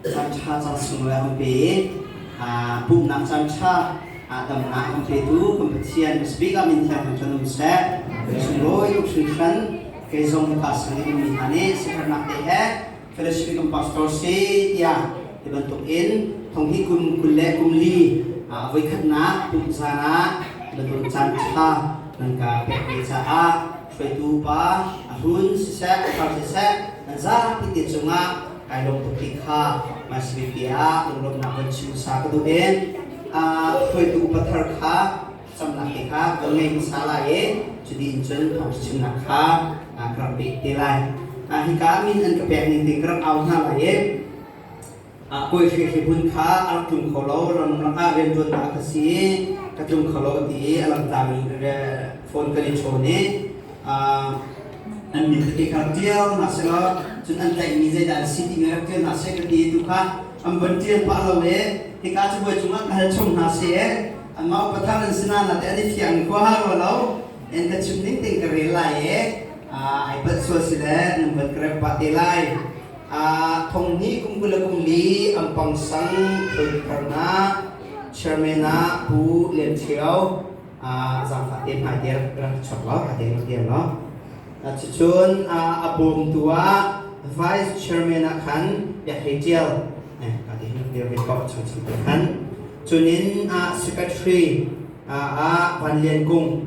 Caanṭha caan chung lawng an pe i pumhnak caanṭha damnak an petu kan Pathian ka Speaker min thianghlim tlun um seh. Kan sunglawi tuk hringhran kei zong ka sang in mi hna nih siaherhnak te he fellowship kan pastor si tiah ti bantukin thong hi kum kul le kum li voikhatnak pumh zan ah bantuk caanṭha nan ka pek ve caah hruaitu pa a hlun siseh thar siseh nan zapi te cungah kai lawm tuk ti kha hmaisamipi ah lunglawmhnak van chim hmasa ka duh in hruaitu pathar kha camnak te kha kan ngei hmasa lai i cuti in cun thawng chimnak kha ka rak pek te lai hika min an ka pek ning te ka rak au hna lai i Kawihri hrihmun kha a rak tlung kho lo, ramrang ah rianṭuannak ka si, ka tlung kho lo ti i a langhtak in phone kan i chawn i an min ka ke ka rak ṭial hna seh law cun an tlaihmi zeidah an si ti nga rak ṭial hna seh ka ti tu kha an van ṭial pah lo i hika cabuai cungah ka hal chung hna seh eh anmah upa thar an si nahnah teh an i fiang khua ha rua lo en ka chim ning tein ka rel lai i ai palh sual si le nan van ka rep pah te lai Thonghni kum kul le kumli an pangsang thiltharnak chairman ah Pu Lian Thio zaangfah te hmai te rak chuak law a te rak dir law cucun a bawmtu ah vice chairman ah khan Biak Hlei Ṭial ka ti hin rak dir ve ko chang chang te khan cunin secretary ah Van Lian Kung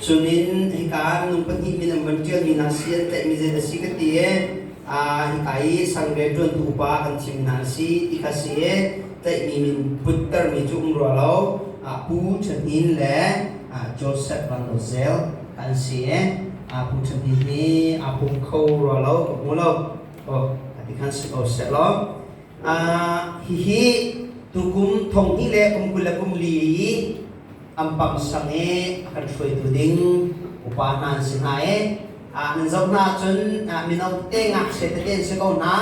Cumin hika nu pahnih min an van ṭialmi hna si an tlaihmi zei dah a si ka ti i hika i sangre ṭuantu upa kan thimmi hna an si ti kha si i tlaihmi min puttermi cu um rua lo Pu Ṭhen Hnin le Joseph Randawzel an si i Pu Ṭhen Hnin hi aa pum kho rua lo ka hmu lo a ti khan si ko sehlaw hihi tukum thong hnih le kum kul le kum li i Am pam sang i a kan hruaitu ding upa hna an si hna i ah nan zoh hna ahcun mino te ngakchiat tete an si ko hna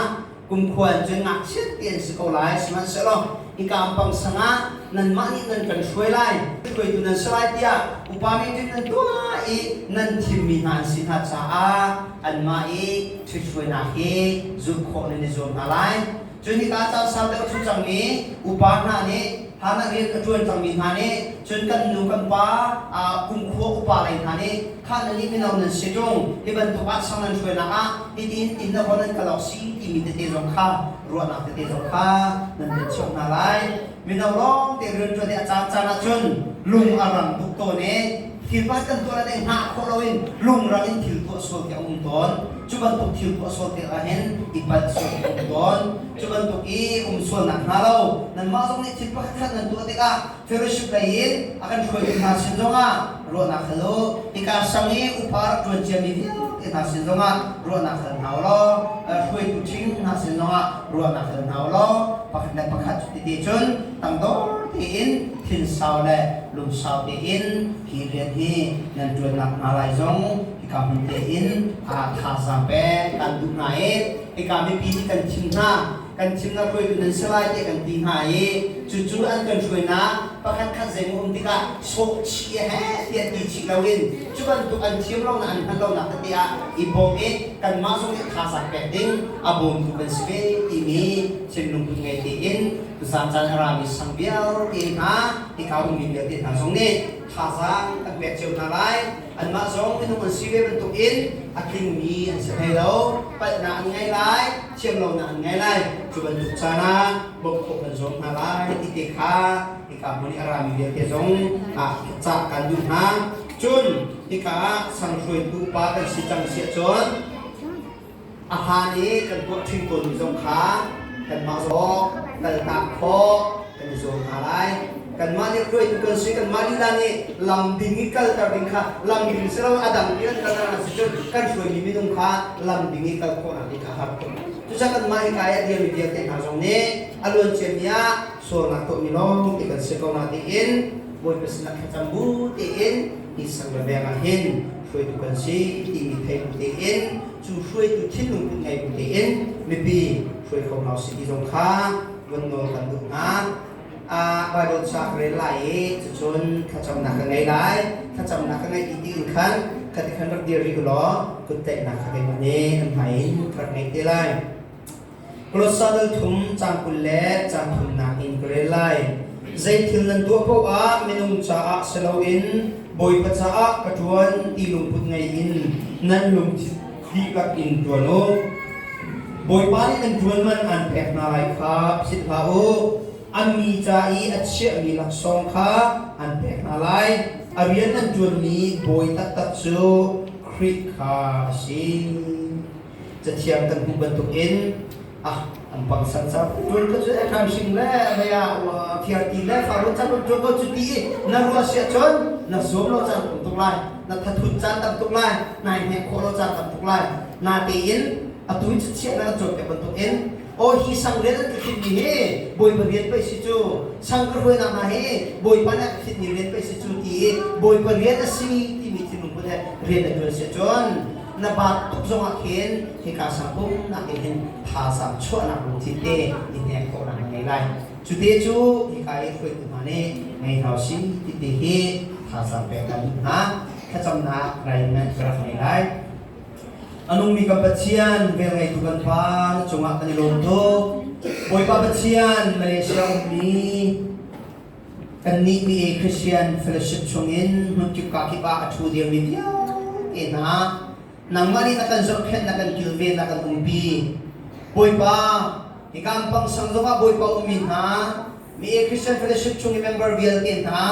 kumkhua in cun ngakchiat ti an si ko lai sihmanhsehlaw hika ampang sang ah nanmah nih nan kan hruai lai hruaitu nan si lai tiah upa mi ṭin nan tuah i nan thimmi hna an si hna caah anmah i ṭhithruainak hi zulh khawh nan i zuam hna lai Cun hika caan sau deuh cu cangmi upa hna nih Hannah rian a ṭuan cangmi hna nih cun kan nu kan pa kumkhua upa lei hna nih kha nan nih mino nan si ṭung hi bantuk ah sang nan hruainak ah hitiin innlahawh nan kal awk si timi tete zong kha ruahnak tete zong kha nan pe cio hna lai. Mino lawngte rianṭuan i a caan caan ahcun lung a rang tuk tawn i thil pakhat kan tuah le deng hna khawh loin lungrang in thil tuah sual khi a um tawn. Cu bantuk thil tuah sual te ahhin i palh sual khi a um tawn. Cu bantuk i um sualnak hna lo nanmah zong nih thil pakhat khat nan tuah tikah fellowship lei in a kan hruaitu hna sin zongah ruahnak hal u. Hika sang i upa rak ṭuan ciami vialte hna sin zongah ruahnak hal hna u law hruaitu ṭhing hna sin zongah ruahnak hal hna u law pakhat le pakhat cuti cun tangdor tein thinsau le lungsau tein hi rian hi nan ṭuan nakhnga lai zong hika hmun tein aa thazaang pek kan duh hna i hika mipi nih kan thim hna kan thim a hruaitu nan si lai tiah kan ti hna i cucu an kan hruainak pakhat khat zeimaw um tikah sawhchih he tiah ti chih loin cu bantuk an thiam lonak an hman lonak tete ah i bawm i kanmah zong nih thazaang pek ding a bawmtu kan si ve timi Chin lungput ngei tiin zaancan a rami sang vialte hna hika ummi vialte hna zong nih thazaang an pek cio hna lai anmah zong minung an si ve bantukin a tlingmi an si hlei lo palhnak an ngei lai thiam lonak an ngei lai cu bantuk caan ah bawmhkhawh kan zuam hna lai ti te kha hika hmun i a rami vialte zong ah cah kan duh hna cun hika ah sang hruaitu pa kan si cang si ahcun a hmaan i kan tuah ṭhing tawnmi zong kha kanmah zong kaltak khawh kan i zuam hna lai. Kanmah nih hruaitu kan si, kanmah lila nih lam ding i kalter ding kha lam ding in si lo, a dang in an kalter a si cun kan hruaimi minung kha lam ding i kal khawhnak ding kha a har khawh. Cucaah kanmah hika i a dirmi vialte hna zong nih a luanciami ah sualnak tuahmi lawngte kan si ko na tiin Bawipa sinah thlacam bu tiin ni sang le veng ah hin hruaitu kan si timi thei bu tiin cu hruaitu thinlung put ngei bu tiin mipi hruai kho hna u si ti zong kha vun nawl kan duh hna. Baibal cu a ka rel lai i cucun thlacamnak ka ngei lai. Thlacamnak ka ngeih dih tiin khan ka ti khan rak dir rih u law kutdaihnak kha keimah nih kan hmai in ka rak ngei te lai. Kolossal thum caang kul le caang thumnak in ka rel lai. Zeithil nan tuah paoh ah minung caah si loin Bawipa caah ka ṭuan ti lungput ngei in nan lungthin dihlak in ṭuan u. Bawipa nih nan ṭuanman aan pek hna lai kha philh hlah u. An mi ca i a chiahmi laksawng kha an pek hna lai. A rian nan ṭuanmi bawi taktak cu Khrih kha a si. Cathiang kan hmuh bantukin ah an pang san sa run ka cu e kan sing le he a thiar ti le fa run chan run ko cu ti i na rua sia chon na som lo chan tum tuk lai na thathut chan tam tuk lai nai hnek khawh lo chan tam tuk lai na te in atu in chiah na chot te bantuk in o hi sang rel ka khit ni he boi pariat pe si chu sang ka rue na ma he boi pa na ka khit ni rian pe si chu ti boi pariat a si ti mi thinung pun he rian a dual se chon Na baat tuk zongah khin hika sangpum nakin hin thazaang chuahnak lungthin te i hnek khawhnak ngei lai. Cu te cu hika i hruaitu hna nih ngei hau si ti te hi thazaang pek kan duh hna. Thlacamnak arrangement ka rak ngei lai. A nungmi kan Pathian velngeitu kan pa na cungah kan i lawm tuk. Bawipa Pathian Malaysia ummi Kannih nih Christian fellowship chungin hmunkip kakip ah a ṭhu dirmi vialte hna, nangmah nih na kan zohkhenh, na kan kilven, na kan umpi. Bawipa, hika pang sang zongah Bawipa ummi hna, mi Christian fellowship chung i member vialte hna,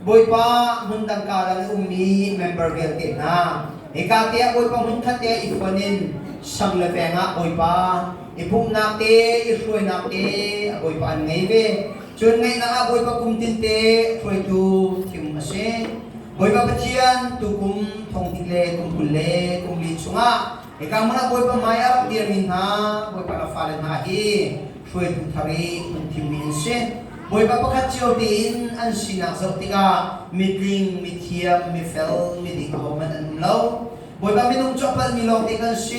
Bawipa hmun dang karang i ummi member vialte hna, hika teah Bawipa hmunkhat teah i fuan in sang le veng ah Bawipa i pumhnak te, i hruainak te, Bawipa an ngei ve. Cun ngaihnak ah Bawipa kum tinte a hruaitu thim a si. Bawipa Pathian tukum thongtik le kum kul le kum li chungah hika hmun ah Bawipa hmai ah rak dirmi hna Bawipa ka fale hna hi hruaitu thar i hun thimmi an si. Bawipa pakhat cio tein an sinak zoh tikah mitling, mithiam, mifel, miding ahohmanh an um lo. Bawipa minung cu a palhmi lawngte kan si.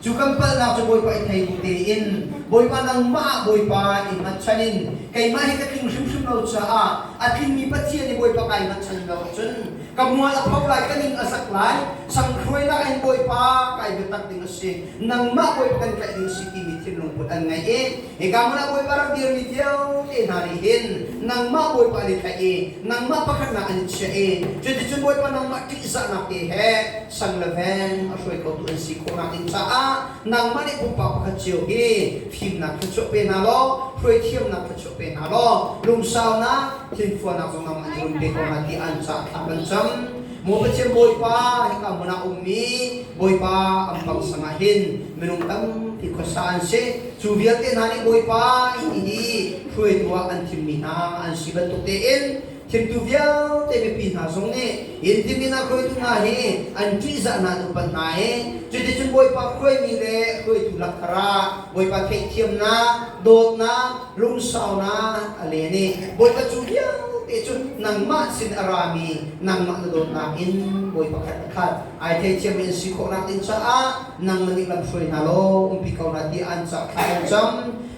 Cu kan palhnak cu Bawipa i thei ning tein Bawipa nangmah ah Bawipa i hngatchan in keimah hi ka tling hrimhrim lo caah a tlingmi Pathian i Bawipa kai hngatchan in lo ahcun ka mual a pho lai, ka ning a zak lai, sanghruainak in Bawipa kai biatak ding a si. Nangmah Bawipa kan tlaih ding a si timi thinlung put an ngei i Hika hmun ah Bawipa rak dirmi vialte hna nih hin nangmah Bawipa nih tlaih i nangmah pakhatnak an chiah i cuticun Bawipa nangmah ṭihzahnak te he sang le veng a hruai khotu an si khawhnak ding caah nangmah nih pumpak pakhat cio hi fimnak thluachuah pe hna law hruaithiamnak thluachuah pe hna law lungsaunak hlinfuahnak zong namah an run pe ko hna ti an caah thla kan cam. Maw Pathian Bawipa, hika hmun ah ummi Bawipa ampang sang ah hin minung tampi khuasa an si. Cu vialte hna nih Bawipa i hi hruaitu ah an thimmi hna an si bantuk tein thimtu vialte mipi hna zong nih in timin a hruaitu hna hi an ṭihzah hna an upat hna i cuticun Bawipa hruaimi le hruaitu lak thar ah Bawipa theihthiamnak, dawtnak, Rumsaunak a len i Bawipa cu vialte cu nangmah sin a rami nangmah na dawtnak in bawi pakhat a khat. Ai theithiammi an si khawhnak ding caah nangmah nih lamhruai hna law umpi ko hna tiah an cah thla an cam.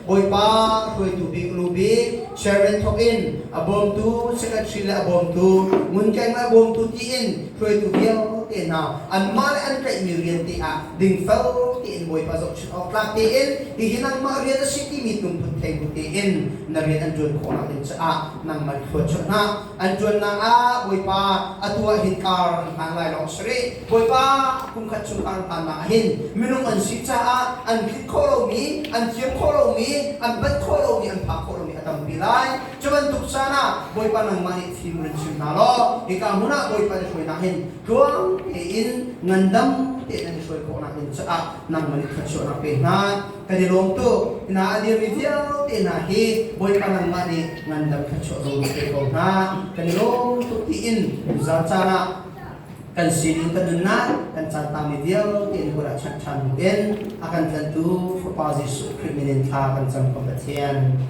Bawipa hruaitu bik lu bik chairman thawk in a bawmtu secretary le a bawmtu ngun keima a bawmtu tiin hruaitu vialte hna anmah le an tlaihmi rian te ah dingfel tein Bawipa zohchunh Awktlak tein, hihi nangmah rian a si timi hnuhmun thei bu tein na rian an ṭuan khawhnak ding caah nangmah i hruat chuah hna. An ṭuannak ah Bawipa, atu ah hin kar an hlan lai lawng a si rih. Bawipa, kum khat chung kar hlannak ah hin minung an si caah an tlinh khawh lomi, an thiam khawh lomi, an banh khawh lomi, an phak khawh lomi a tampi lai. Cu bantuk caan ah Bawipa nangmah nih fim in an chim hna law, hika hmun ah Bawipa na hruainak hin Tluang tein ngandam tein an i hruai khawhnak ding caah nangmah nih thluachuahnak pe hna. Kan i lawm tuk. Hna a dirmi vialte hna hi Bawipa nangmah nih ngandam thluachuah zong na pe ko hna. Kan i lawm tuk tiin zan caan ah kan sining kan nunnak kan caan tangmi vialte in bual ah chanh ṭhan in a kan tlantu Fapa Jesuh Khrih minin thla kan cam ko Pathian.